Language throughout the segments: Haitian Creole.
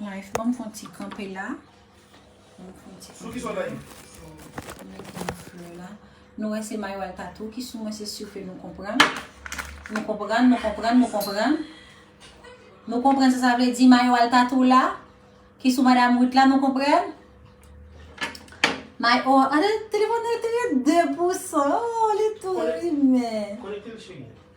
Life banm fon ti kanpe la. Banm fon ti kanpe la. Banm mete yon flè la. Nou wè se mayo al tatou ki sou mwen se sou ke nou konprann. Nou konprann, nou konprann, nou konprann. Nou konprann sa sa vle di mayo al tatou la. Ki sou madam Ruth la nou konprann. May o, ane telefon nou e te gen 2 pousan. Oh, li tou rime. Konekte l cheri.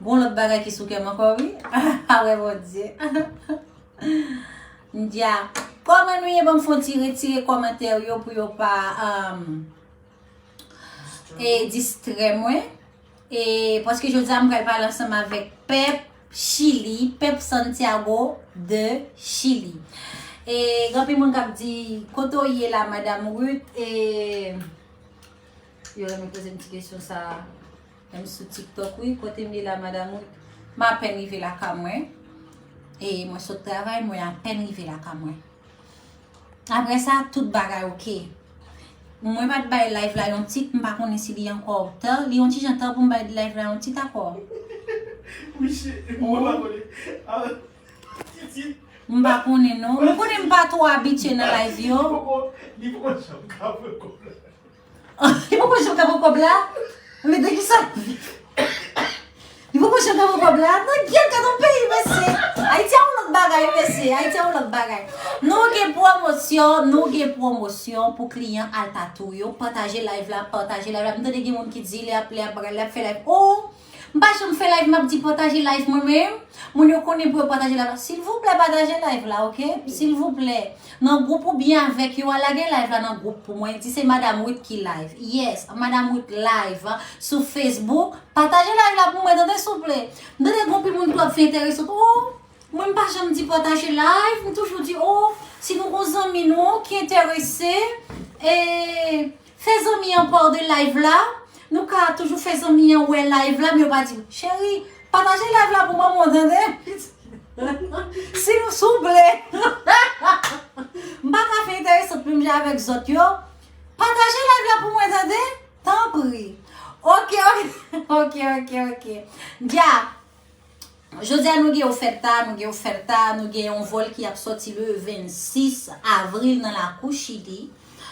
Gon lòt bagay ki sou kèm ankò wi a wè bondye Ndya Kòman nou ye banm fon ti retire kòmantè yo pou yo pa e distrè mwen e paske jodi a m pral pale ansanm avèk pèp chili pèp santiago de chili e genpil moun kap di kote ou ye la madam Ruth e yo renmen poze m ti kesyon sa a M sou tiktok wi kote m ye la madam ou m apèn rive lakay mwen e mwen sot travay mwen apèn rive lakay mwen aprè sa tout bagay ok mwen pat bay live la yon tit m pa konnen si li ankò ta li yon ti jan ta pou m bay live la yon tit akò m pa konnen non m konnen m pa twò abitye nan live yo. Li poko janm ka pran kob la Men de kisa ap viv Li poko janm ka pran kob la Nan gyèt gad on peyi mesye Ayiti a on lot bagay mesye Ayiti a on lot bagay Nou gen pwomosyon Nou gen pwomosyon pou kliyan al tatou yo Pataje live la Pataje live la M tande gen moun ki di li ap li ap bagay li ap fè live ooh M pa janm fè live map di pataje live mwen men moun yo konnen pou yo pataje live la silvouplè pataje live la ok silvouplè nan group ou byen avèk yo a lage live la nan group pou mwen di se madame Ruth ki live yes madame Ruth live sou Facebook pataje live la pou mwen tande souple m tande gon pi moun tou ap fè enterese sou oh mwen m pa janm di pataje live m toujou di oh si nou gon zanmi nou ki enterese eee. Fè zanmi an paw de live la Nou ka toujou fè zanmi an wè live la men yo pa diw Cheri pataje live la pou mwen mwen tande Sil souple M pa ka fè entèresant menm jan avèk zòt yo Pataje live la pou mwen tande Tanpri Ok ok Ok ok ok Dja Jodi a nou gen yon fèt ta, nou gen yon fèt ta, nou gen yon vòl ki ap sòti le 26 avril nan lakou Chili.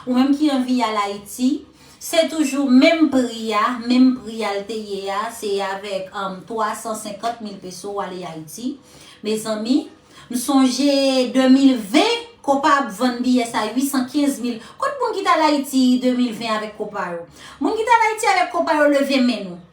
Ou menm ki anvi al Ayiti, se toujou menm pri a, menm pri al te ye a, se avèk 350 mil peso ou ale Ayiti. Mezanmi, m sonje 2020, kopa ap vann biyè sa 815 mil. Kot moun ki t al Ayiti 2020 avèk kopa yo? Moun ki t al Ayiti avèk kopa yo leve men nou.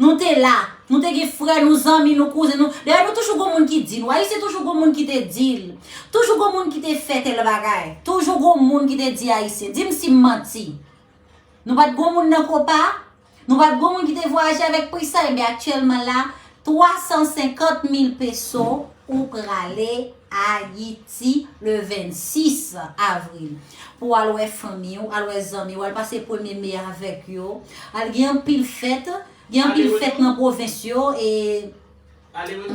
Nou te la. Nou te gen frè nou, zanmi nou, kouzen nou. Dayè nou toujou gon moun ki di nou. Ayisyen toujou gon moun ki te di l. Toujou gon moun ki te fè tèl bagay. Toujou gon moun ki te di Ayisyen. Di m si m manti. Nou pa t gon moun nan Kopa? Nou pa t gon moun ki te vwayaje avèk Prisa? Enben aktyèlman la, 350 mil peso ou prale. Ayiti le 26 avril pou al wè fanmi w, al wè zanmi w, al pase premye me a avèk yo. Al gen anpil fèt, gen anpil fèt nan pwovens yo e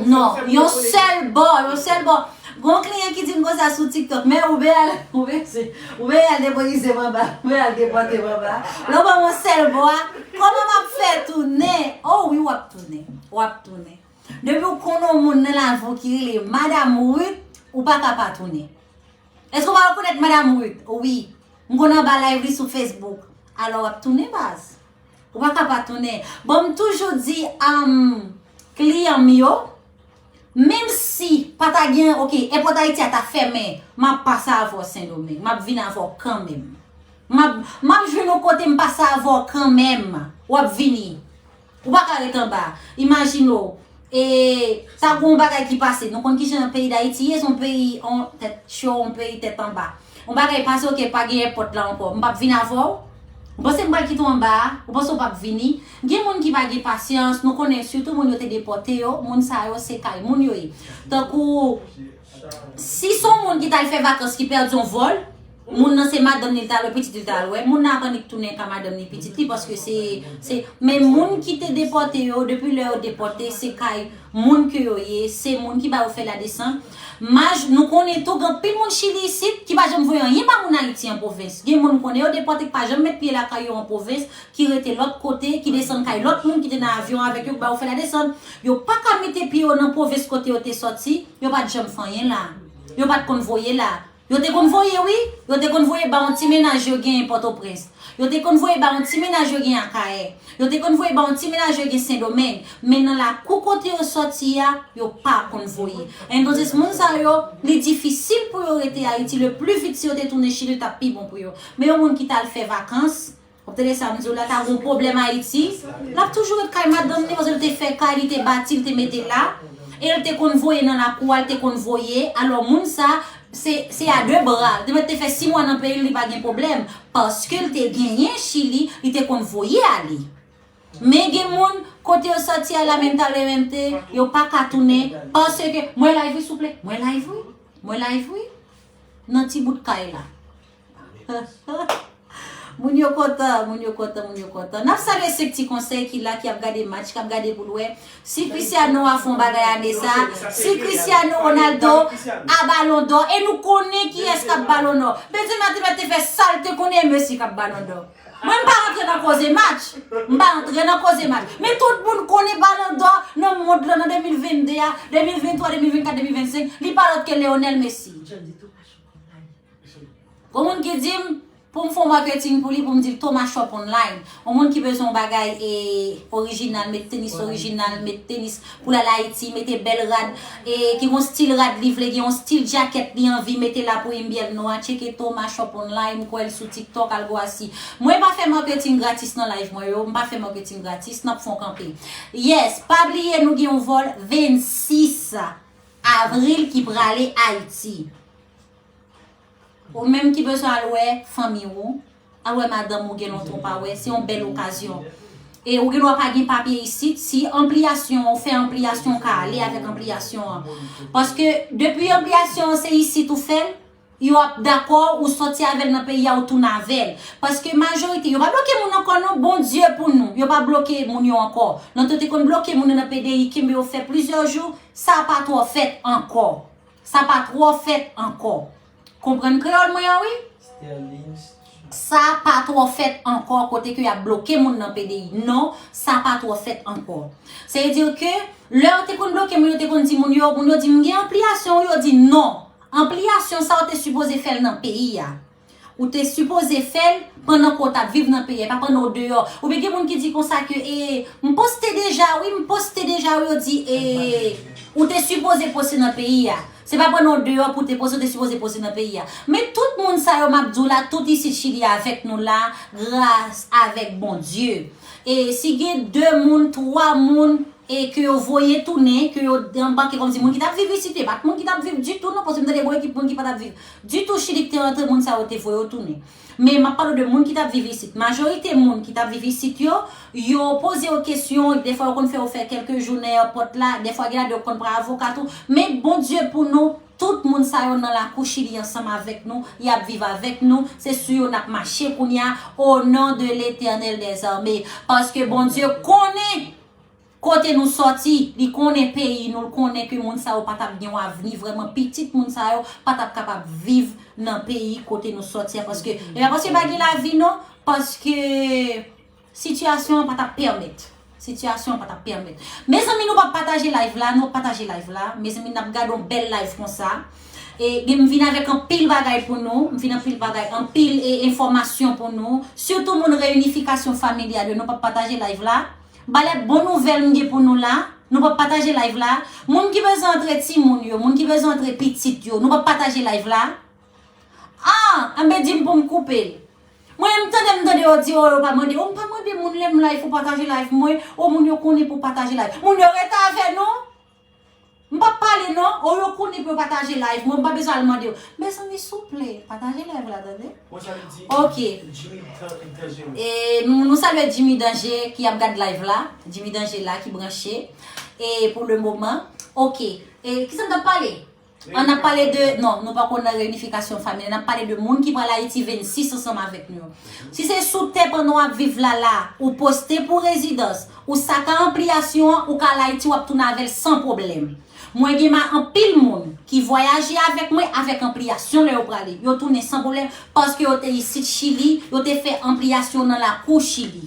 non, yon sèl bò, yon sèl bò. Gon kliyan ki di m konsa sou tiktok, mè ou vle al, ou vle se, ou vle al depoize m anba, ou vle al depote m anba. Lè w ban m yon sèl bò a, kòman m ap fè tounen? O wi w ap tounen, w ap tounen. Depi ou konnen yon moun nan lavi w ki rele Madam Ruth, ou pa ka pa tounen. Èske ou pa rekonèt Madam Ruth? Wi. M konn anba live li sou Facebook. Alò w ap tounen baz. Ou pa ka pa tounen. Bon m toujou di kliyan m yo, menm si pa ta gen, ok, èpòt Ayiti a ta fèmen, m ap pase avè w Sendomeng. M ap vin avè w kanmenm. M ap jwenn yon kote m pase avè w kanmenm. W ap vini. Ou pa ka ret anba. Imajine w. E sa gen yon bagay ki pase. Nou konn ki jan peyi Dayiti ye. Se yon peyi an tèt cho, yon peyi tèt anba. Yon bagay pase ok pa gen èpòt la ankò. M pap vin avè w. Ou panse m pral kite w anba a? Ou panse w pap vini? Gen moun ki pa gen pasyans. Nou konnen sitou moun yo te depòte yo. Moun sa yo se kay moun yo ye. Tankou si s on moun ki t al fè vakans ki pèdi yon vòl. Moun nan se madanm li li ta wè pitit li ta al wè moun nan ap annik tounen ka madanm ni pitit li paske se se men moun ki te depòte yo depi lè yo depòte se kay moun ke yo ye se moun ki ba yo fè la desan maj nou konnen tou gen anpil moun chili isit ki pa janm voye anyen ba moun ayiti an pwovens gen moun nou konnen yo depòte ki pa janm met pye lakay yo an pwovens ki rete lòt kote ki desann kay lòt moun ki te nan avyon avèk yo ki ba yo fè la desann yo pa ka mete pye yo nan pwovens kote yo te sòti yo pat janm fè anyen la yo pat konn voye la. Yo te konn voye wi, yo te konn voye ba yon ti mennaj yo genyen Pòtoprens. Yo te konn voye ba yon ti mennaj yo genyen Akayè. Yo te konn voye ba yon ti mennaj yo genyen Sendomeng. Men nan lakou kote yo sòti a, yo pa konn voye. Entonses moun sa yo, li difisil pou yo rete Ayiti, le pli vit si yo te tounen Chili l t ap pi bon pou yo. Men yon moun ki t al fè vakans, Wap tande sam diw la ta gon pwoblem ayiti lap toujou ret kay madanm li paske li te fè kay li te bati li te mete la el te konn voye nan lakou a li te konn voye alò moun sa se a de bra li te mèt te fè 6 mwa nan peyil li pa gen pwoblem paske li te genyen chili li te konn voye ale men gen moun kote yo soti a la menm ta lèmènte yo paka tounen paske mwen live wi souple mwen live wi mwen live wi nan ti bout kay la. Moun yo kontan, moun yo kontan, moun yo kontan. Nap salye 5 ti konsèy ki la, ki ap gade match, kap gade pou l wè, si Cristiano a fon bagay ane sa, si Cristiano Ronaldo a balon dò, e nou konnen kiyès kap balon dò. Benzema te mèt te fè sa l te konnen e Messi kap balon dò. Mwen m pa rantre nan koze match, m pa rantre nan koze match, men tout moun konnen balon dò nan mond lan nan 2022 a, 2023, 2024, 2025, li pa lòt ke Leonel Messi. Gon moun ki dim poum fon marketing pou li poum dil Thomas shop online yon moun ki bezwen yon bagay e original met tenis original met tenis poul al ayiti mete bèl rad e ki gon stil rad li vle gen yon stil jacket li anvi mete la pou inbyèn nou an tcheke Thomas shop online m kwèl sou tiktok al gwa si mwen pa fè marketing gratis nan live mwen yo m pa fè marketing gratis nap fon kanpe yes pa bliye nou gen yon vol 26 avril ki prale ayiti. Ou menm ki bezwen al wè fanmi ou, al wè madanm ou gen lontan ou pa wè, se yon bèl okazyon. E ou gen dwa pa gen papye isit, si anpliyasyon ou fè anpliyasyon ou ka ale avèk anpliyasyon an. Paske depi anpliyasyon an se isit ou fèl, yo ap dakò ou sòti avèl nan peyi a ou tounen avèl. Paske majorite, yo pa bloke moun ankò non, Bondye pou nou, yo pa bloke moun yo ankò. Lontan yo te konn bloke moun yo nan PDI, kenbe yo fè plizyè jou, sa pa twò fèt ankò. Sa pa twò fèt ankò. Konprann kreyòl mwen an wi. Sa pa twò fèt ankò kote ke y ap bloke moun nan PDI. Non, sa pa twò fèt ankò. Se vle di ke lè yo te konn bloke moun, yo te konn di moun yo, moun yo di m gen anpliyasyon wi, yo di non. Anpliyasyon sa yo te sipoze fè l nan peyi a. Ou te sipoze fèl pandan ke w tap viv nan peyi a e pa pandan w deyò. Oubyen gen moun ki di konsa ke e m poste deja wi, m poste deja wi yo di e ou te sipoze poste nan peyi a. Se pa pandan w deyò pou w te poste, ou te sipoze poste nan peyi a. Men tout moun sa yo map di w la tout isit chili avèk nou la gras avèk Bondye. E si gen 2 moun, 3 moun e ke yo voye tounen, ke yo anbake kòmsi moun ki tap viv isit yo e pat moun ki tap viv ditou non paske m tande bon ekip moun ki patap viv. Ditou chili ki te rantre moun sa yo te voye yo tounen men map pale w de moun ki tap viv isit majorite moun ki tap viv isit yo yo poze yo kesyon defwa yo konn fè yo fè kelke jou nan èpòt la defwa gen la de yo konn pran avoka tou men bondye pou nou tout moun sa yo nan lakou chili ansanm avèk nou yap viv avèk nou se sou yo nap mache kounya o non de letènèl dèzame paske bondye konnen Kote nou sòti, li konnen peyi nou, l konnen ke moun sa yo pa t ap gen yon avni vrèman, pitit moun sa yo pa t ap kapab viv nan peyi kote nou sòti a, paske, e pa paske pa gen lavi non, paske sitiyasyon an pa t ap pèmèt, sitiyasyon an pa t ap pèmèt. Mezanmi nou pa pataje live la non, pataje live la, mezanmi n ap gade yon bèl live konsa, e gen m vin avèk anpil bagay pou nou, m vin anpil bagay, anpil e enfòmasyon pou nou, sitou moun reyinifikasyon familyal yo, nou pa pataje live la. Balè bon nouvèl m gen pou nou la Nou pa pataje live la Moun ki bezwen antre timoun yo Moun ki bezwen antre pitit yo Nou pa pataje live la Ahh enben dim poum koupe l Mwen menm m tande m tande yo di oh yo pa mande oh m pa mande moun lèm live pou pataje live mwen oh moun yo konnen pou pataje live Moun yo rete avè nou M pap pale non, oh yo konnen pou yo pataje live mwen, m pa bezwen al mande yo. Mezanmi souple, pataje live la tande. Mwen sa li di Ok. Jimmy Danger. E nou nou salye Jimmy Danger ki ap gad live la. Jimmy Danger la ki branche. E pou le moman. Ok. E kisa m tap pale? An ap pale de, non, nou pako nan reyinifikasyon familyal, n ap pale de moun ki pral Ayiti 26 ansanm avèk nou yo. Si se sou tè pandan w ap viv la la, ou poste pou rezidans, ou sa ka anpliyasyon an, ou ka al Ayiti w ap tounen avè l san pwoblèm. Mwen gen ma anpil moun ki vwayaje avèk mwen avèk anpliyasyon lè yo prale. Yo tounen san pwoblèm paske yo te isit Chili, yo te fè anpliyasyon nan lakou Chili.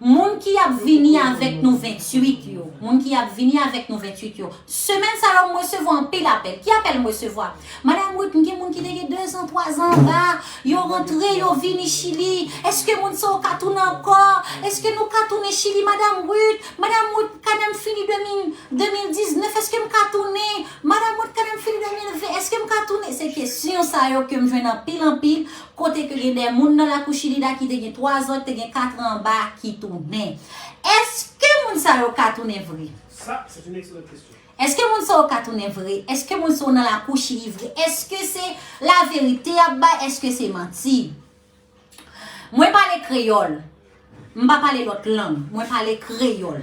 Moun ki ap vini avèk nou 28 yo, moun ki ap vini avèk nou 28 yo, semèn sa yo m resevwa anpil apèl. Ki apèl m resevwa? Madam Ruth, m gen moun ki te gen dezan, twazan anba, yo rantre, yo vini Chili, èske moun sa yo ka tounen ankò? Èske nou ka tounen Chili Madam Ruth? Madam Ruth, kanè m fini 2019, èske m ka tounen? Madam Ruth, kanè m fini 2020, èske m ka tounen? Se kesyon sa yo ke m jwenn anpil anpil kote ke gen de moun nan lakou Chilida ki te gen 3 zan, ki te gen 4 an anba ki tounen. Eske moun sa yo ka tounen vre? Sa, c'est une excellente question. Eske moun sa yo ka tounen vre? Eske moun sa yo nan lakou Chili vre? Eske se laverite y ap bay? Eske se manti? Mwen pale kreyòl. M pa pale lòt lang, mwen pale kreyòl.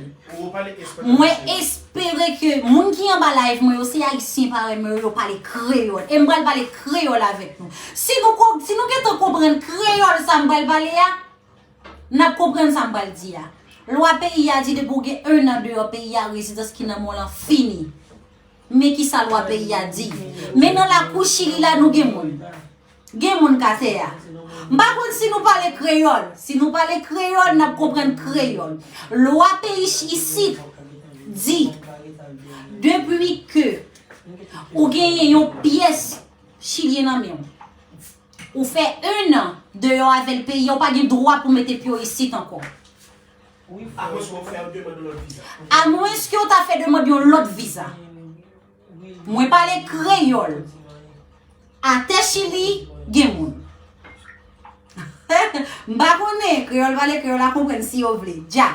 Mwen espere ke moun ki anba live mwen yo se ayisyen parèy mwen yo, yo pale kreyòl. E m pral pale kreyòl avèk nou. Si nou gentan konprann kreyòl sa m pral pale a, n ap konprann sa m pral di a. Lwa peyi a di depi w gen 1 an deyò peyi a, rezidans ki nan men w lan fini. Men ki sa lwa peyi a di. Men nan lakou chili la nou gen moun. Gen moun ka tè a. M pa konn si nou pale kreyòl. Si nou pale kreyòl, n ap konprann kreyòl. Lwa peyi isit di depi ke ou genyen yon pyès chilyen nan men ou, ou fè un an deyò avè l peyi a, ou pa gen dwa pou mete pye w isit ankò. Amwenske ou ta fè demand yon lòt viza. Mwen pale kreyol. Ate chili gen moun. M pa konnen, kreyol pale kreyol a konprann si yo vle. Dja.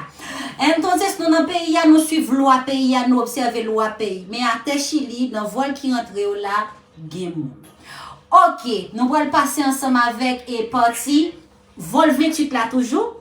Entonces nou nan peyi a nou swiv lwa peyi a nou obseve lwa peyi. Men ate chili nan vol ki rantre yo la gen moun. Ok nou pral pase ansanm avek e pati vol 28 la toujou.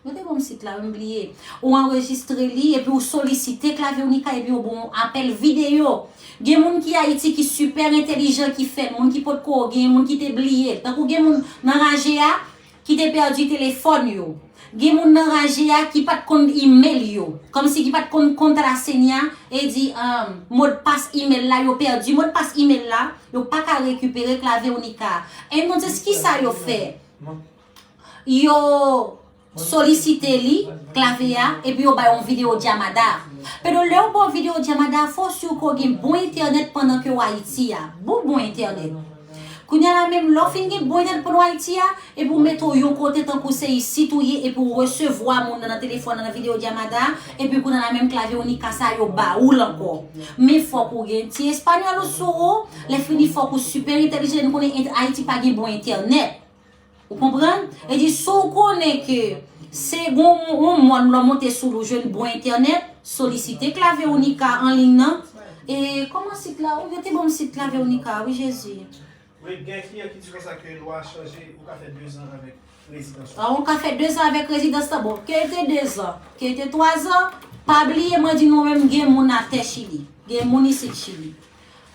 Yo te banm sit la wi m bliye. Ou anrejistre li epi ou solisite klavye w Nika epi yo bon w apèl videyo. Gen moun ki Ayiti ki sipè entelijan ki fè l, moun ki potko gen, moun ki te bliye l. Tankou gen moun nan raje a ki te pèdi telefòn yo. Gen moun nan raje a ki pat konn email yo. Kòmsi ki pat konn kontrasenya e di modpas email la yo pèdi modpas email la yo paka rekipere klavye w Nika. Entonses kisa yo fè? yo solisite li, klavye a, epi yo bay yon video Djamada. Pedro lè ou ba yon video Djamada, fò ou siw ke ou gen bon entènèt pandan ke ou Ayiti a. Bon bon entènèt. Kounya la menm lè ou fin gen bon entènèt pandan ou Ayiti a, epi ou mete ou yon kote tankou se isit ou ye epi ou resevwa moun nan nan telefòn nan nan video Djamada a, epi kounya la menm klavye Unica sa yo ba oul ankò. Men fòk ou gen ti espanyòl ou sou ou, lè fini fòk ou super entèlijan e nou konnen Ayiti pa gen bon entènèt. Ou konprann? E di si w konnen ke se gon yon mòn lè w monte sou l ou jwenn bon entènèt, solisite klave w Nika an liy nan. E kòman sit la ou yo te ban m sit klave w Nika a wi Jezi. Wi, gen kliyan ki di konsa ke lwa a chanje, ou ka fè 2 zan avèk rezidans la. Ou ka fè 2 zan avèk rezidans la. Bon, ke l te 2 zan, ke l te 3 zan, pa bliye mwen di nou menm gen moun atè Chili. Gen moun isit Chili.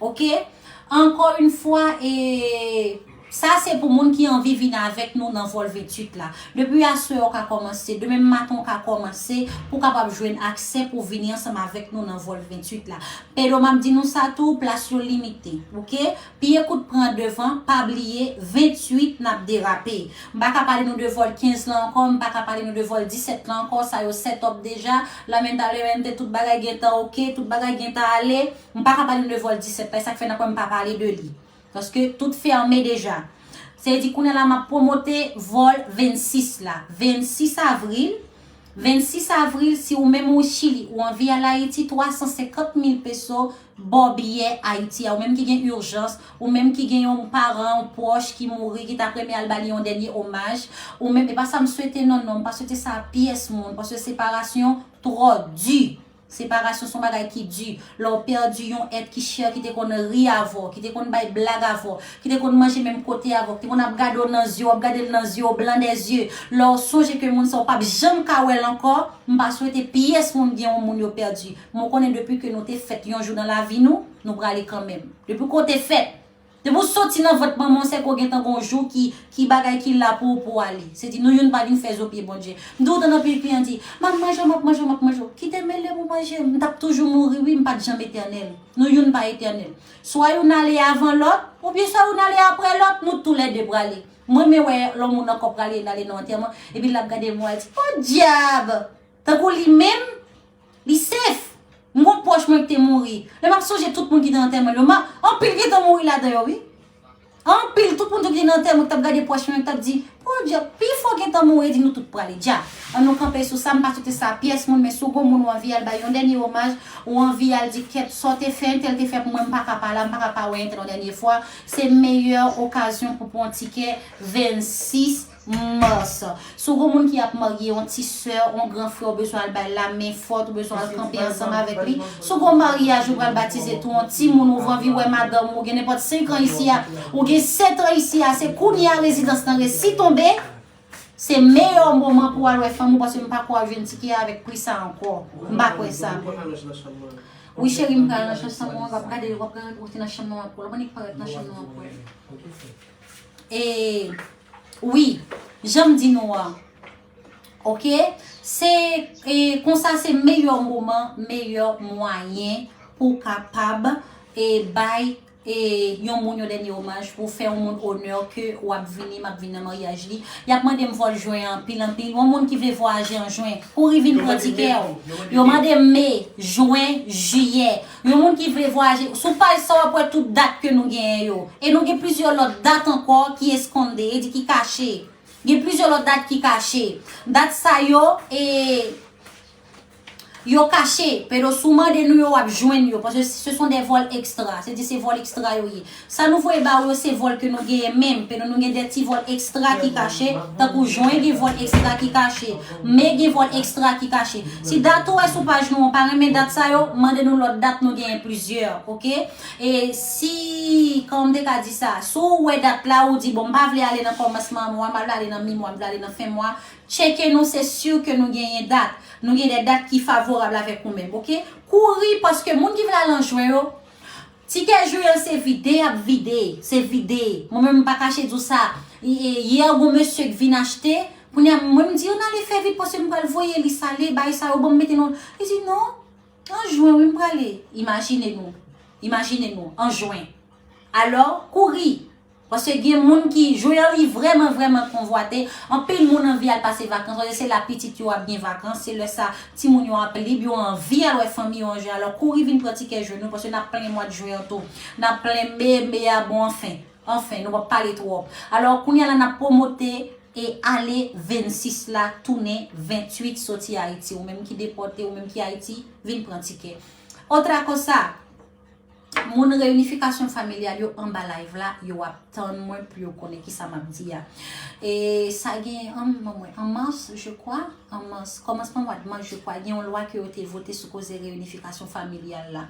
Ok Ankò yn fwa e Sa se pou moun ki anvi vin avèk nou nan vòl 28 la. Depi aswè ou ka kòmanse, demenm maten ou ka kòmanse pou w kapab jwenn aksè pou w vini ansanm avèk nou nan vòl 28 la. Pero map di nou sa tou, plas yo limite. Ok Pye kout pran devan, pa bliye 28 nap derape. M pa ka pale nou de vòl 15 lan ankò, m pa ka pale nou de vòl 17 lan ankò, sa yo set up deja, lamentablemente tout bagay gentan ok, tout bagay gentan ale. M pa ka pale nou de vol 17 la, e sak fè nan kwen m pa pale de li. Paske tout fèmen deja. Sa vle di kounya la map pwomote vol 26 la. 26 avril, 26 avril si ou menm ou chili ou anvi al ayiti 350 mil peso baw biyè ayiti a ou menm ki gen urjans, ou menm ki gen yon paran ou pwoch ki mouri ki ta renmen al ba li yon dènye omaj, ou menm e pa sa m swete non non, m pa swete sa a pyès moun paske separasyon twò di. Separasyon son bagay ki di, lè w pèdi yon èt ki chè ki te konn ri avè w, ki te konn bay blag avè w, ki te konn manje menm kote avè w, ki te konn ap gade w nan zye, w ap gade l nan zye, o blan dè zye, lè w sonje ke moun sa w pap janm ka wè l ankò, m pa swete pyès moun gen yon moun yo pèdi, men w konnen depi ke nou te fèt yon jou nan lavi nou, nou prale kanmenm. Depi ke w te fèt, Depi w soti nan vant manman w se ke w gentan gen yon jou ki ki bagay ki la pou pou w ale. Se di nou youn pa vin fè zo pye Bondye. M toujou tande anpil fi an di, m ap manje w, m ap manje w, m ap manje w. Kite mele pou manje m. M t ap toujou mouri wi, m pa t janm etènèl. Nou youn pa etènèl. Swa youn ale avan lòt, oubyen swa youn ale aprè lòt, nou tou lè de prale. M renmen wè lò moun ankò prale, l ale nan antèman, epi l ap gade mwa, l di, podyab! Tankou li menm, li safe. M gon pwòch mwen ki te mouri. Lè m ap sonje tout moun ki te nan antèman l yo, m ap, anpil gentan mouri ladan yo wi. Anpil, tout moun ki te nan antèman ki t ap gade pwòch mwen yo, ki t ap di, Poodja, pifò gentan mouri. Yo di nou tout prale. Dja, an nou kanpe sou sa, m pa swete sa a pyès moun, men si w gon moun ou anvi al bay yon dènye omaj, ou anvi al di kèt sa w te fè, entèl te fè pou mwen, m pa ka pa la, m pa ka pa wè entèl yon dènye fwa, se meyè okazyon pou w pran yon tikè 26. Mars. Si w gen yon moun ki ap marye, yon ti sè, yon gran frè ou bezwen al bay lamen fòt, ou bezwen al kanpe ansanm avèk li. Si w gen yon maryaj ou pral batize tou, yon timoun ou vanvi wè madanm ou, ou gen nenpòt 5 an isi a, ou gen 7 an isi a, se kounye a rezidans lan resi tonbe, se meyè moman pou w al wè fanm ou paske m pa kwè w ap jwenn tike a avèk pri sa ankò. M pa kwè sa. Wi cheri m pral nan chanm sa mwen, w ap gade l, w ap gade l, ou te nan chanm nan w ap wè l, w ap gade l, li parèt nan chanm nan w ap wè l. E. Wi janm di nou an ok se konsa se meyè moman meyè mwayen pou kapab e bay e yon moun yon dènye omaj pou fè yon moun onè ke wap vini map vini nan maryaj li yap mandem vòl jwen anpil anpil yon moun ki vle vwayaje an jwen kouri vin pran tikèw yo mande me jwen jiyè Yon moun ki vle vwayaje, sou paj sa w ap wè tout dat ke nou genyen yo. E nou gen plizyè lòt dat ankò ki eskonde, e di ki kache. Gen plizyè lòt dat ki kache. Dat sa yo, e, yo kache. Pero si w mande nou yo, w ap jwenn yo. Paske se son de vòl ekstra. Se di se vòl ekstra yo ye. Sa nou voye ba ou yo se vòl ke nou genyen menm ke nou nou gen de ti vòl ekstra ki kache tankou jwen gen vòl ekstra ki kache me gen vòl ekstra ki kache si dat ou wè sou paj nou an pa renmen dat sa yo mande nou lòt dat nou genyen plizyè ok e si kòman m te ka di sa si w wè dat la ou di bon m pa vle ale nan kòmansman mwa m ale nan mi mwa m vle ale nan fen mwa tcheke nou se sur ke nou genyen dat nou gen de dat ki favorab avèk ou menm ok kouri paske moun ki vle al an jwen yo Ti kè joel se vide yap vide se vide mwen menm mpa kache diw sa hier gon mesye k vin achte kounya mwen mdi yo nale fè vit paske mpral voye li sale bay sa yo banm mete nan li di non an juin wi mprale imajine nou imajine nou an juin alò kouri Paske gen moun ki Joeurly vrèman vrèman konvwate, anpil moun anvi al pase vakans paske se la pitit yo ap gen vakans, se lè sa timoun yo ap lib, yo anvi al wè fanmi yo an jan, alò kouri vin pran tikè jwe nou paske nap plen mwad Juin an tou. Nap plen Me, Me a bon anfen, anfen nou pap pale twòp. Alò kounya la nap pwomote e ale 26 la tounen 28 soti Ayiti, ou menm ki depòte, ou menm ki Ayiti vin pran tikè. Otra cosa! Moun reunification familiale yo anba live la yo ap tann mwen pou yo konnen kisa map di a e sa gen an mars je kwa an mars kòmansman mwad mars je kwa gen yon lwa ke yo te vote sou koze reunification familiale la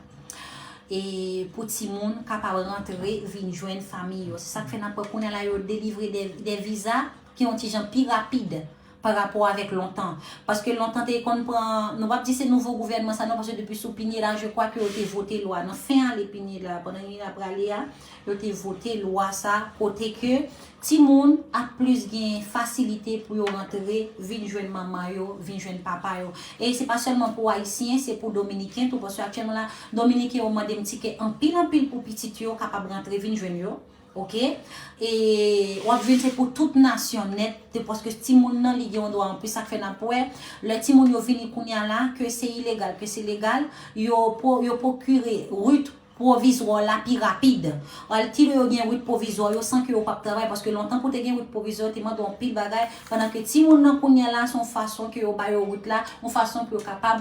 e pou ti moun kapab rantre vin jwenn fanmi yo se sak fè nap wè kounye a la yo delivre de viza ki yon ti jan pi rapid pa rapò avèk lontan. Paske lontan te konn pran, nou pap di se nouvo gouvènman sa non, paske depi sou Pineda je kwa ke yo te vote lwa nan fen ane Pineda, pandan li ap prale a, yo te vote lwa sa kote ke timoun ap plis gen fasilite pou yo rantre vin jwenn manman yo, vin jwenn papa yo. E se pa sèlman pou Ayisyen, se pou Dominiken tou, paske aktyèlman la, Dominiken yo mande m tike anpil anpil pou pitit yo kapab rantre vin jwenn yo. Ok e wap jwenn se pou tout nasyon nèt de paske ti moun nan li gen yon dwa anplis sak fè nap wè lè ti moun yo vini kounya la ke se ilegal ke se legal yo yo pokire rut pwovizwò la pi rapid al ti lè yo gen rut pwovizwò yo san ke yo pap travay paske lontan pou te gen rut pwovizwò te mande yon pil bagay pandan ke ti moun nan kounya la son fason ke yo bayo rut la yon fason pou yo kapab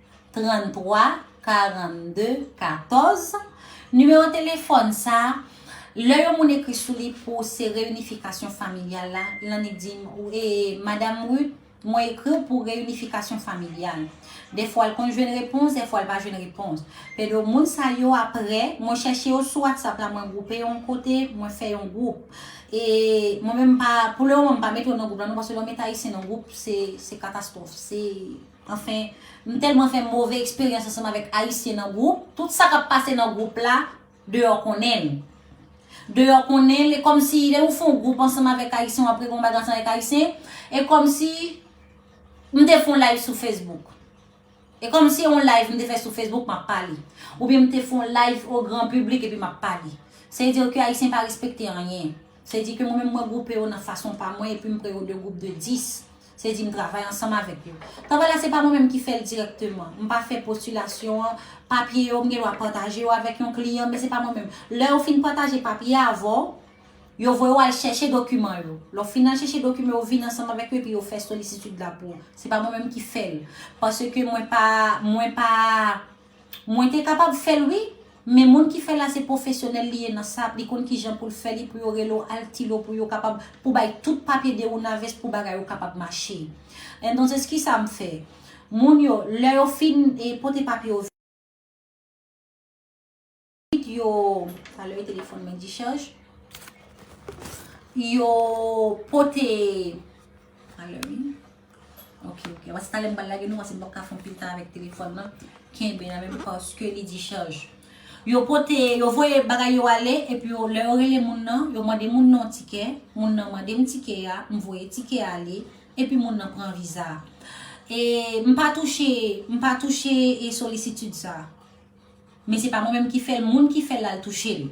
33 42 14 Nimewo telefòn sa a, lè yon moun ekri sou li pou se reyinifikasyon familyal la, lan li di m, ee, Madam Ruth, mwen ekri w pou reyinifikasyon familyal. Dèfwa l konn jwenn repons, dèfwa l pa jwenn repons. Pero moun sa yo aprè, mwen chèche yo sou WhatsApp la, mwen gwoupe yo yon kote, mwen fè yon gwoup. E mwen menm m pa, pou le moman m pa mete yo nan gwoup la non, paske lè w mete Ayisyen nan gwoup, se katastwòf. Se. Anfen, m tèlman fè move eksperyans ansanm avèk Ayisyen nan gwoup, tout sa k ap pase nan gwoup la, deyò konnen l. Deyò konnen l, e kòmsi lè ou fon gwoup ansanm avèk Ayisyen, w ap regle yon bagay ansanm avèk Ayisyen, e kòmsi m te fon live sou Facebook. E kòmsi se yon live m te fè sou Facebook m ap pale. Oubyen m te fon live o gran piblik epi m ap pale. Se vle di ke Ayisyen pa respekte anyen. Se vle di ke mwen menm mwen gwoupe yo nan fason pa mwen epi m pre yo de gwoup de 10. Se di m travay ansanm avèk yo. Travay la se pa mwen menm ki fè l dirèkteman. M pa fè postilasyon an. Papye yo, m gen dwa pataje yo avèk yon kliyan, men se pa mwen menm. Lè yo fin pataje papye avè w, yo voye w al chèche dokiman yo. Lè w fin al chèche dokiman yo, ou vini ansanm avèk yo epi yo fè solisitid la pou ou. Se pa mwen menm ki fè l. Paske mwen pa, mwen pa. Mwen te kapab fèl wi, men moun ki fèl la se pwofesyonèl li ye nan sa, li konn kijan poul fè li pou yo rele w al ktilo pou yo kapab pou bay tout papye de ou na vès pou bagay ou kapab mache. Entonces kisa m fè? Moun yo lè yo fin pote papye yo vini. Ansuit yo, talè yo telefòn mwen dichaj, yo pote, talè wi, ok ok, avan se talè m pral lage nou paske m pap ka fon pil tan avèk telefòn nan, kenbe nan menm paske li dichaj. Yo pote, yo voye bagay yo ale, epi yo, lè yo rele moun nan, yo mande moun nan yon tikè, moun nan mande m tikè a, m voye tikè a ale, epi moun nan pran viza a. E m pa touche, m pa touche e solisitid sa. Men se pa mwen menm ki fèl moun ki fèl lal touchel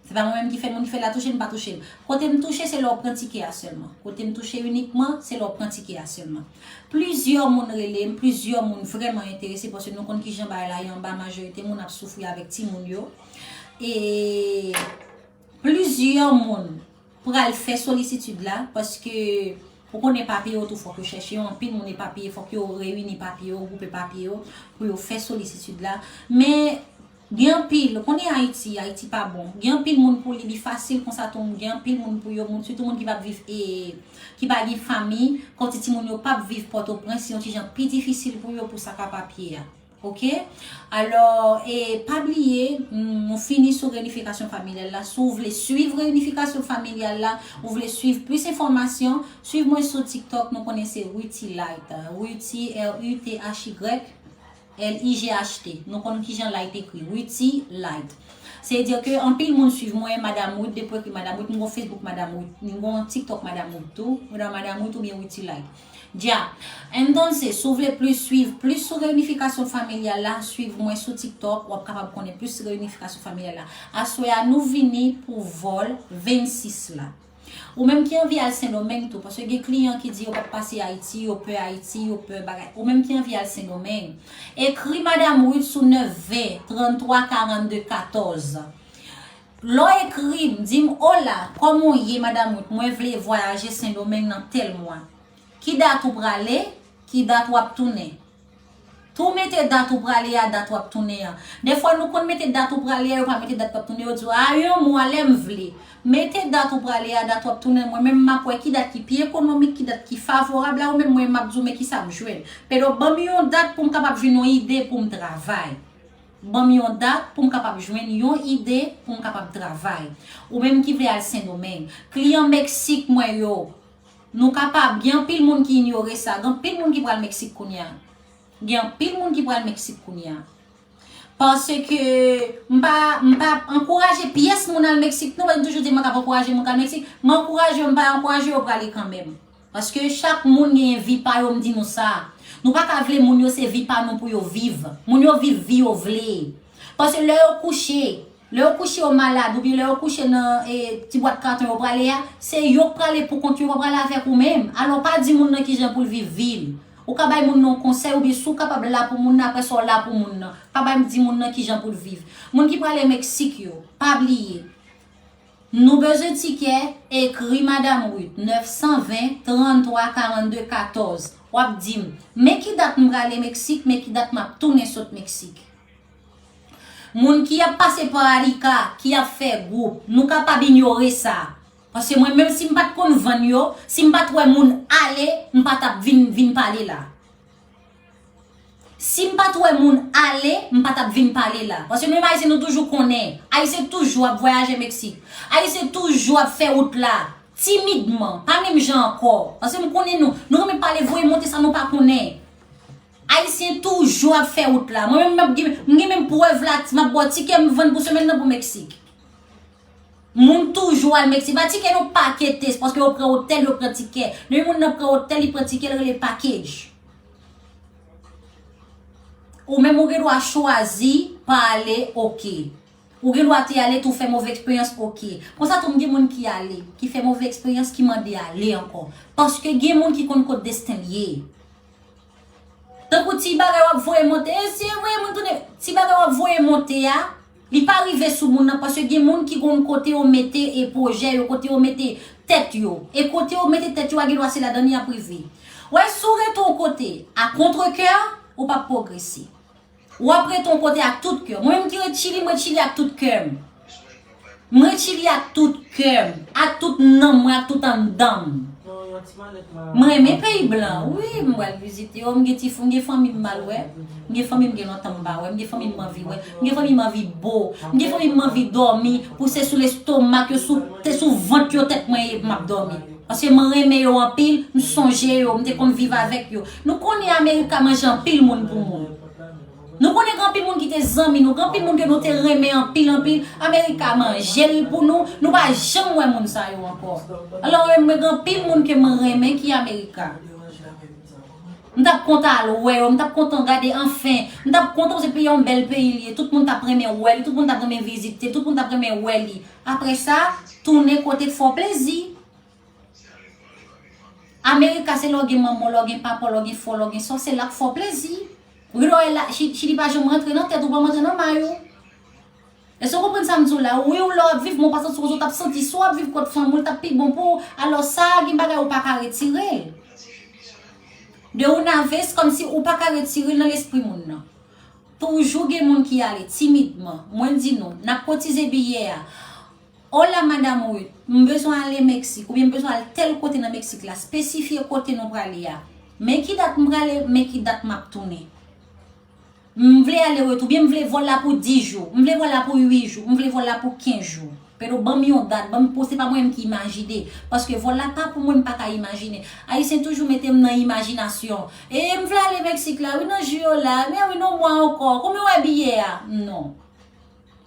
se pa mwen menm ki fèl moun ki fèl la touchel mpa touchel kotem touche se lè ou pran tikè a sèlman kotem touche inikman se lè ou pran tikè a sèlman plizyè moun relem plizyè moun vrèman enterese paske nou konn kijan bagay la ye anba majorite moun ap soufri avèk timoun yo e. Plizyè moun pral fè solisitid la paske ou konnen papye yo tou fòk yo chèche yo anpil moun epapiye fòk yo reyini papye yo gwoupe papye yo pou yo fè solisitid la men gen anpil ou konnen ayiti ayiti pa bon gen anpil moun pou li li fasil konsa tou gen anpil moun pou yo moun sitou moun ki pap viv e ki pa gen fanmi kòti timoun yo pap viv pòtoprens se yon ti jan pi difisil pou yo pou sa ka papye a. Ok alò e pa bliye nou fini sou reyinifikasyon familyal la si w vle swiv reyinifikasyon familyal la ou vle swiv plis enfòmasyon swiv mwen sou tiktok nou konnen se Ruthilight Ruthi r u t h y l i g h t nou konn kijan light ekri Ruthilight se vle di ke anpil moun swiv mwen madam Ruth depi w ekri madam Ruth m gen yon facebook madam Ruth m gen yon tiktok madam Ruth tou madam Ruth oubyen Ruthilight. Dja, Entonces si w vle plis swiv plis sou reyinifikasyon familyal la, swiv mwen sou tiktok wap kapab konnen plis sou reyinifikasyon familyal la. Aswè a nou vini pou vol 26 la. Ou menm ki anvi al sendomeng tou, paske gen kliyan ki di yo pap pase ayiti, yo pè ayiti, yo pè bagay. Ou menm ki anvi al sendomeng, ekri madam Ruth sou 9 20 33 42 14. Lè w ekri m, di m Ola, kòman w ye Madam Ruth mwen vle vwayaje Sendomeng nan tèl mwa. Ki dat ou prale? Ki dat w ap tounen? Tou mete dat ou prale a, dat w ap tounen an. Dèfwa nou konn mete dat ou prale a, yo pa mete dat w ap tounen, yo di w a yon mwa lè m vle. Mete dat ou prale a, dat w ap tounen mwen menm m ap wè ki dat ki pi ekonomik, ki dat ki favorab a ou menm mwen m ap di w men kisa m jwenn. Pero ban m yon dat pou m kapab jwenn yon ide pou m travay. Banm yon dat poum kapab jwenn yon ide poum kapab travay. Ou menm ki vle al sendomeng. Kliyan meksik mwen yo Nou kapab gen anpil moun ki inyore sa gen anpil moun ki pral meksik kounya gen anpil moun ki pral meksik kounya paske mpa mpa ankouraje pyès moun al meksik non men mtoujou di mwen kap ankouraje moun kal meksik m ankouraje yo mpa ankouraje yo prale kanmenm Paske chak moun genyen vi pa yo m di nou sa. Nou pa ka vle moun yo se vi pa nou pou yo viv. Moun yo viv vi yo vle. Paske lè yo kouche, lè yo kouche yo malad oubyen lè yo kouche nan e ti bwat katon yo prale a, se yo k prale pou kont yo, yo pa prale avèk ou menm. Alò pa di moun nan kijan pou l viv vi l. Ou ka bay moun nan yon konsèy oubyen si w kapab la pou moun nan aprè sa w la pou moun nan. Pa bay di moun nan kijan pou l viv. Moun ki prale Meksik yo, pa bliye. Nou bezwen tikè? Ekri Madam Ruth 920 33 42 14 Wap dim, Men ki dat m prale Meksik men ki dat map tounen sot Meksik Moun ki ap pase pa Arica ki ap fè gwoup, nou kapab inyore sa Paske mwen menm si m pat konn vann yo, si m pat wè moun ale m pa tap vin vin pale la. Sim pat wè moun ale m pa tap vin pale la paske menm ayisyen nou toujou konnen ayisyen toujou ap vwayaje meksik ayisyen toujou ap fè wout la timidman pa menm jan ankò paske m konnen nou nou renmen pale voye monte sa nou pa konnen ayisyen toujou ap fè wout la mwen menm m gen menm prèv la map bò tikè m vann pou semèn nan pou meksik. Moun toujou al Mexique. Ba ticket non paquetes paske yo pran hotel yo pran ticket. Depi moun nan pran hotel li pran ticket li rele package. Ou menm ou gen dwa chwazi pa ale ok. Ou gen dwa te ale tou fè move eksperyans ok. Konsa tou m gen moun ki ale ki fè move eksperyans ki mande ale anko. Paske gen moun ki konn kot desten l ye. Tankou ti bagay wap voye monte. E si e voye moun tounen. Ti bagay wap voye monte a. Li pa rive sou moun nan paske gen moun ki konn kote yo mete e pwojè yo, kote yo mete tèt yo. E kote yo mete tèt yo a gen dwa se ladan l y ap rive. Ou wè si w rete yon kote a kontre kè, ou p ap pwogrese. Ou ap rete yon kote ak tout kè. Mwen menm ki ret Chili, m ret Chili ak tout kè m. M ret Chili ak tout kè m, ak tout nanm mwen, ak tout anndan m. M renmen peyi blan wi m pral vizite yo m gen ti m gen fanmi m mal wè m gen fanmi m gen lontan m pa wè m gen fanmi m manvi wè m gen fanmi m anvi bo m gen fanmi m manvi dòmi pou se sou lestomak yo sou se sou vant yo tèt mwen ye pou m ap dòmi paske m renmen yo anpil m sonje yo m te konn viv avèk yo nou konnen amerika manje anpil moun pou moun. Nou konnen gen anpil moun ki te zanmi nou, gen anpil moun ke nou te renmen anpil anpil, America manje l pou nou, nou pa janm wè moun sa yo ankò. Alò menm mwen gen anpil moun ke mwen renmen ki America. M t ap kontan al wè yo, m t ap kontan gade anfen, m t ap kontan se yon bèl peyi li ye, tout moun t ap renmen wè li, tout moun t ap renmen vizite, tout moun t ap renmen wè li. Aprè sa, tounen kote k fè w plezi. America se lè w gen manman w, lè w gen papa w, lè w gen frè w, lè w gen sè w, se la w fè w plezi. Ou gen dwa wè la, chili pa janm rantre nan tèt ou, pa rantre nan may ou. Èske w konprann sa m di w la? Wi ou lè w ap viv men w pa santi w konsa, ou t ap santi si w ap viv kot fanmi w l t ap pi bon pou w. Alò sa a gen bagay ou pa ka retire l. De una vez kòm si ou pa ka retire l nan lespri moun nan. Toujou gen moun ki ale timidman. Mwen di nou, n ap kotize biyè a. Hola madame Ruth, m bezwen ale Mexique oubyen m bezwen al tèl kote nan Mexique la, spesifye kote nou prale a. Men ki dat m prale, men ki dat map tounen. M vle ale retou, oubyen m vle vòl la pou 10 jou, m vle vòl la pou 8 jou, m vle vòl la pou 15 jou. Pero banm yon dat, banm pou se pa mwen menm ki imajine, paske vòl la pa pou mwen m pa ka imajine. Ayisyen toujou mete m nan imajinasyon. E m vle ale Mexique la wi nan jou yo la, men wi nan mwa ankò, konbyen wè biyè a? Non.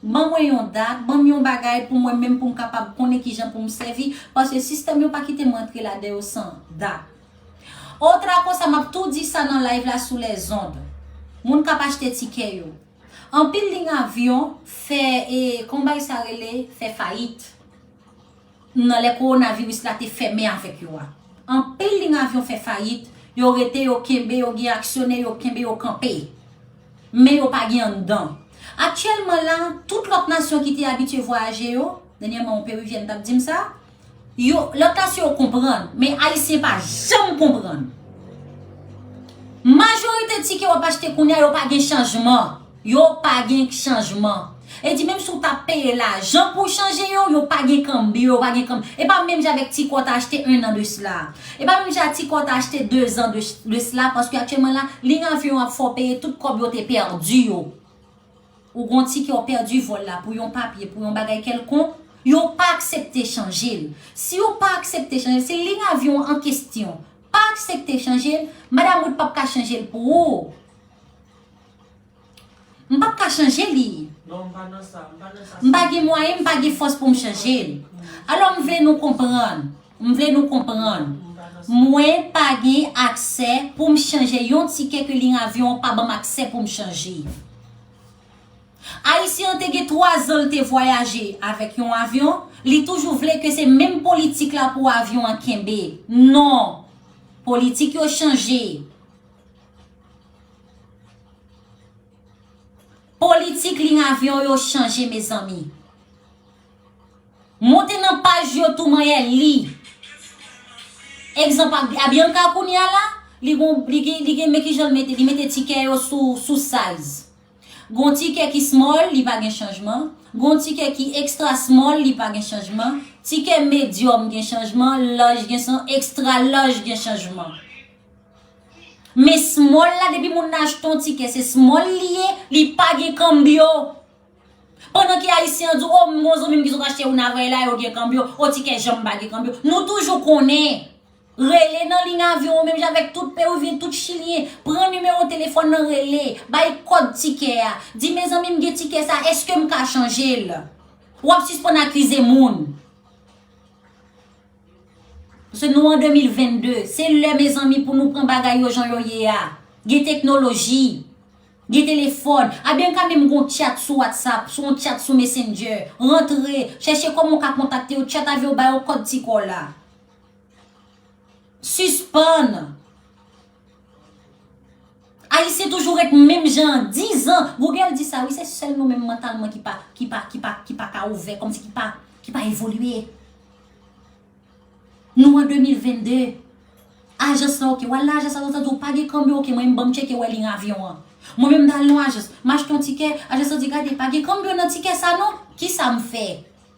Ban mwen yon dat, ban m yon bagay pou mwen menm pou m kapab konnen ki jan pou m sèvi, paske sistèm yo pa kite m rantre ladan yo san dat. O tra konsa m ap tou di sa nan live la sou lèzond. Moun k ap achte tikè yo. Anpil lign avyon fè e kon bay sa rele fè fayit. nan lè kowonaviris la te fèmen avèk yo a. Anpil liy avyon fè fayit, yo rete, yo kenbe, yo gen aksyonè, yo kenbe, yo kanpe. Men yo pa gen anndan. Aktyèlman la, tout lòt nasyon ki te abitye vwayaje yo, dènyèman yon perivyèn t ap di m sa, yo, lòt nasyon yo konprann, men Ayisyen pa janm konprann. Majorite tikè w ap achte kounye a yo pa gen chanjman. Yo pa gen chanjman. E di menm si w ta peye lajan pou chanje yo, yo pa gen kanbyo, yo pa gen kanb. E pa menm jan avèk ti kò w ta achte 1 an de sla a. E pa menm jan ak ti kò w ta achte 2 zan de sla paske aktyèlman la, liy avyon ap fè w peye tout kòb yo te pèdi yo. Ou gon ti kè w pèdi vòl la pou yon papye, pou yon bagay kèlkonk, yo pa aksepte chanje l. Si yo pa aksepte chanje l, si liy avyon an kestyon pa aksepte chanje l, madam ou t p ap ka chanje l pou ou. M pap ka chanje li. M pa gen mwayen, m pa gen fòs pou m chanje l. Alò m vle nou konprann, m vle nou konprann, mwen pa gen aksè pou m chanje yon tikè ke liy avyon an pa ban m aksè pou m chanje. Ayisyen an te gen 3 zan l te vwayaje avèk yon avyon, li toujou vle ke se menm politik la pou avyon an kenbe. Non! Politik yo chanje. Politik liy avyon yo chanje mezanmi. Monte nan paj yo tou manyè li. Egzanp Abianca kounye a la, li gon li gen men kijan li mete li mete tikè yo sou size. Gon tikè ki small li pa gen chanjman, gon tikè ki extra small li pa gen chanjman, tikè medium gen chanjman, large gen san, extra large gen chanjman. Men small la depi moun nan achte yon tikè se small li ye, li pa gen kanbyo. Pandan ke ayisyen an di w, o m gen yon zanmi m ki sot achte youn avèyè la yo gen kanbyo, o tikè janm pa gen kanbyo. Nou toujou konnen, rele nan liy avyon an menm jan avèk tout peruvyen, tout chilyen, pran nimewo telefòn nan rele, bay kòd tikè a, di mezanmi m gen tikè sa eske m ka chanje l? W ap sispann akize moun. Paske nou an 2022, se lè mezanmi pou nou pran bagay yo jan yo ye a. Gen teknoloji, gen telefòn, a byen ka menm gen yon chat sou WhatsApp, sou yon chat sou Messenger, rantre, chèche kòman w ka kontakte yo, chat avè yo, ba yo kòd ti kò w la. Sispann! Ayisyen toujou ret menm jan an 10 ans Google di sa wi se sèl nou menm mantalman ki pa ki pa ki pa ki pa ka ouvè kòmsi ki pa ki pa evolye Nou an 2022 Ajans lan ok wal nan ajans lan yo ta di w pa gen kanbyo ok mwen menm banm tcheke wè liy avyon an Mwen menm m ta al nan yon ajans m achte yon tikè ajans lan di gade pa gen kanbyo nan tikè sa non kisa m fè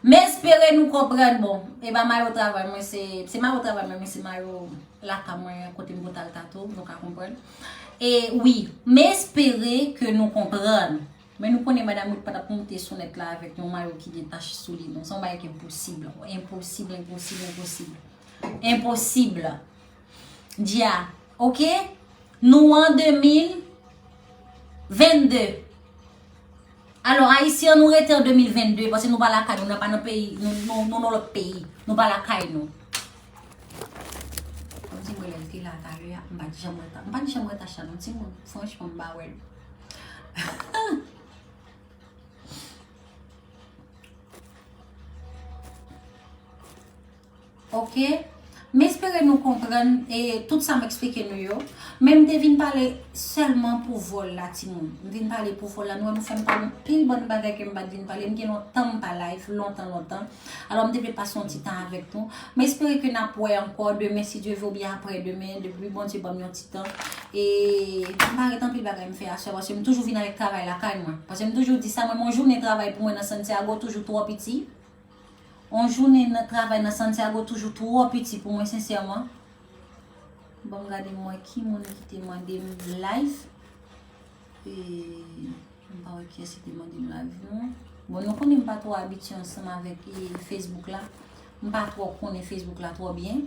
Mespere nou konprann bon Eba mayo travay mwen se Se mayo travay mwen men se mayo Lakay mwen kote m pou tal tato Nou ka konprann E wi Mespere ke nou konprann Men nou konnen madam Ruth patap moute sou nèt la avèk yon mayo ki gen tach sou li non Se yon bagay ki enposib Enposib enposib enposib Enposib Dia ok Nou an 2022 Alò ayisyen an nou rete an 2022 Pase nou pa lakay nou Nou pa nan peyi Nou nou lòt peyi Nou pa lakay nou Ti mwen lèm te la talè ya M pa di janm reta M pa di janm reta chan non ti mwen Franch mwen m pa wèl Ok M espere nou konprann tout sa m eksplike nou yo Men m te vin pale sèlman pou vòl la timoun M vin pale pou vòl la Nou wè nou fè m pale anpil bann bagay ke m pa t vin pale M gen lontan m pa live lontan lontan Alò m te vle pase yon ti tan avèk nou M espere ke n ap wè ankò demen si Dye vle oubyen aprè demen depi Bondye ban m yon ti tan E m pa ret anpil bagay m fè aswè paske m toujou vin avèk travay lakay mwen Paske m toujou di sa mwen m yon jounen travay pou mwen nan Santiago toujou twò piti On jounen nan travay nan Santiago toujou twò piti pou mwen sensèman. Bon m gade m wè ki moun ki te mande m live. E m pa wè kiyès ki te mande m live non. Bon nou konnen m pa twò abitye ansanm avèk e Facebook la. M pa twò konnen Facebook la twò byen.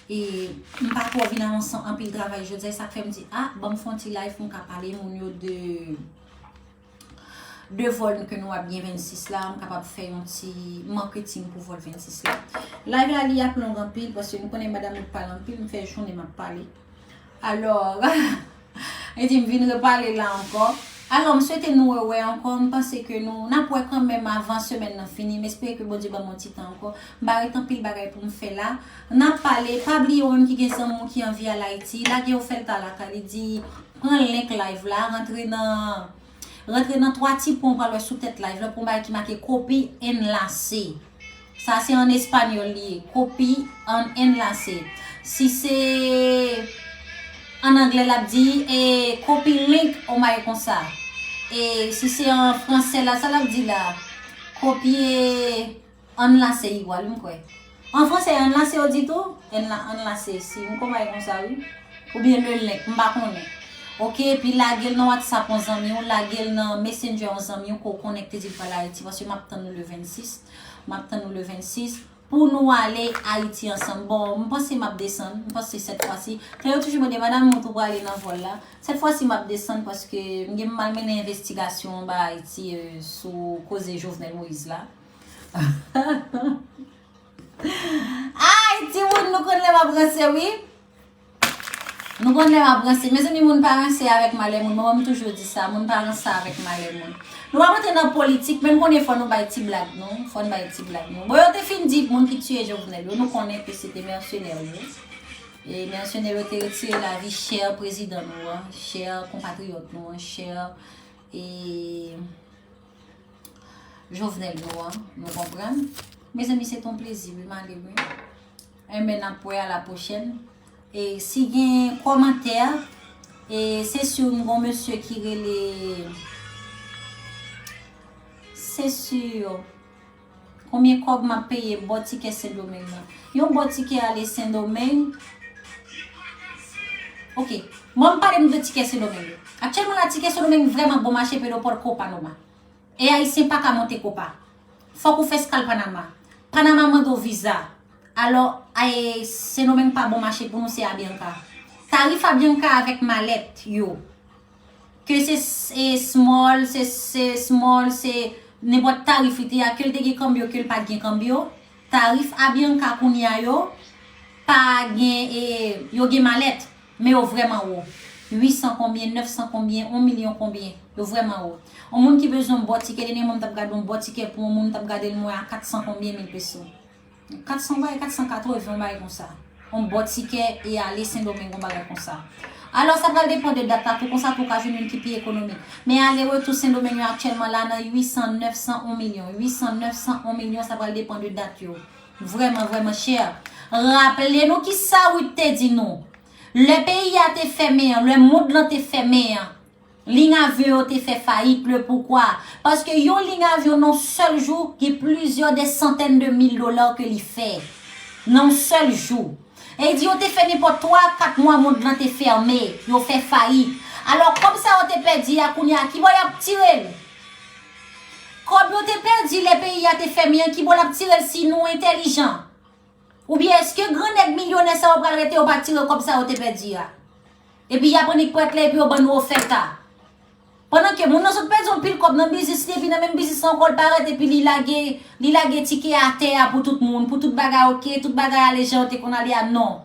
E m pa twò vin ansanm anpil travay jodi a e sa k fè m di a banm fon ti live pou m ka pale moun yo de de vol ke nou ap gen 26 la m kapab fè yon ti marketing pou vol 26 la live la li ap long anpil paske nou konnen madame nou pale anpil m fè jounen m ap pale alò e di m vin repale la ankò alò m swete nou wè wè ankò m panse ke nou n ap wè kanmenm avan semèn nan fini m espere ke bondye ban m yon ti tan ankò m pa ret anpil bagay pou m fè la n ap pale pa bliye ou menm ki gen zanmi w ki anvi al ayiti lage yo fè l ta lakay li di Pran link live la, rantre nan rantre nan 3 ti pwen w pral wè sou tèt live la pou yon bagay ki make copy enlace. Sa se an espanyòl li ye, copy an enlace. Si se an anglè l ap di e copy link yon bagay konsa. E si se an fransè la sa l ap di la, kopye. Ann la se igwal wi m kwè. An fransè ann la se yo di tou? Èn la ann la se si yon konpay konsa wi. Oubyen le link, m pa konnen. Ok epi lage l nan whatsapp yon zanmi w, lage l nan messenger yon zanmi w ke w konnen k te di l pral Ayiti paske m ap tann nou le 26, m ap tann nou le 26 pou nou ale Ayiti ansanm. Bon m panse m ap desann, m panse sèt fwa si, tan yo toujou mande madam ou tou prale nan vòl la? Sèt fwa si m ap desann paske m gen pou m al mennen envestigasyon anba Ayiti sou koze Jovenel Moïse la. Ayy timoun nou konn lè map ranse wi Nou konn lè map ranse Mezanmi moun pa ranse avèk malè moun Manman m toujou di sa Moun pa ranse avèk malè moun Nou pa rantre nan politik men nou konnen fò nou bay ti blag nou Fò n bay ti blag nou Bon yo te fin di moun ki tiye Jovenel yo nou konnen ke se te mèsenè yo E mèsenè yo te retire lavi chè prezidan nou an Chè konpatriyòt nou an Chè e Jovenel nou an, nou konprann. Mezanmi se ton plezi wi male mwen. Enben eh nap wè a la pwochèn. E si gen komantè, e se su m gon mesye ki rele se su Konbyen kòb map peye bo tikè sendomeng nan yon bo tikè ale sendomeng ok banm pale m de tikè sendomeng yo aktyèlman la tikè sendomeng vrèman bon mache pedo port copa noma e ayisyen paka monte copa fòk ou fè skal panama panama mande w viza alò ae sendomeng pa bon mache pou nou se abianca tarif abianca avèk malèt yo. Ke se se small, se se small, se nenpòt tarif li te a, ke l te gen kanbyo, ke l pa t gen kanbyo, tarif Avianca kounye a yo pa gen e yo gen malèt, men yo vrèman wo. 800 konbyen, 900 konbyen, on milyon konbyen. Yo vrèman wo. On moun ki bezwen on bon tikè, dènyèman m t ap gade on bon tikè pou on moun, m t ap gade l mwen a 400 konbyen mil peso. 400 ou bay 480 ou bay konsa. On bon tikè e ale sendomeng on bagay konsa. Alò sa pral depan de dat la tou konsa tou ou ka jwenn youn ki pi ekonomik. Men ale retou sendomeng yo aktyèlman la nan 800, 900 on milyon. 800, 900 on milyon sa pral depan de dat yo. Vrèman vrèman chè. Raple nou kisa Ruth te di nou. Lè peyi a te fèmen an, lè mond lan te fèmen an. Lign avyon yo te fè fayit, le poukwa? Paske yon lign avyon nan yon sèl jou gen plizyè dè santèn de mil dola ke li fè. Nan yon sèl jou. E di yo te fè nenpòt 3 a 4 mwa mond lan te fèmen, yo fè fayit. Alò kòb sa yo te pèdi a kounye a ki bò yap tire l? Kòb yo te pèdi lè peyi a te fèmen an ki bò lap tire l si nou entèlijan? Oubyen eske gran nèg milyonè sa yo pral rete yo pa tire kòb sa yo te pèdi a? Epi yap annik prèt la epi yo bannou ofèt a. Pandan ke moun nan sot pèdi yon pil kòb nan biznis li epi nan menm biznis lan ankò li pa rete epi li lage li lage tike a tè a pou tout moun pou tout bagay ok tout bagay ale jan yo te konn ale a non.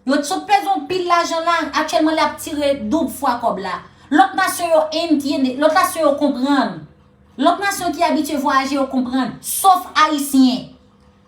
Yo t sot pèdi yon pil lajan la aktyèlman li ap tire doub fwa kòb la. Lòt nasyon yo entiende lòt nasyon yo konprann lòt nasyon ki abitye vwayaje yo konprann sof ayisyen.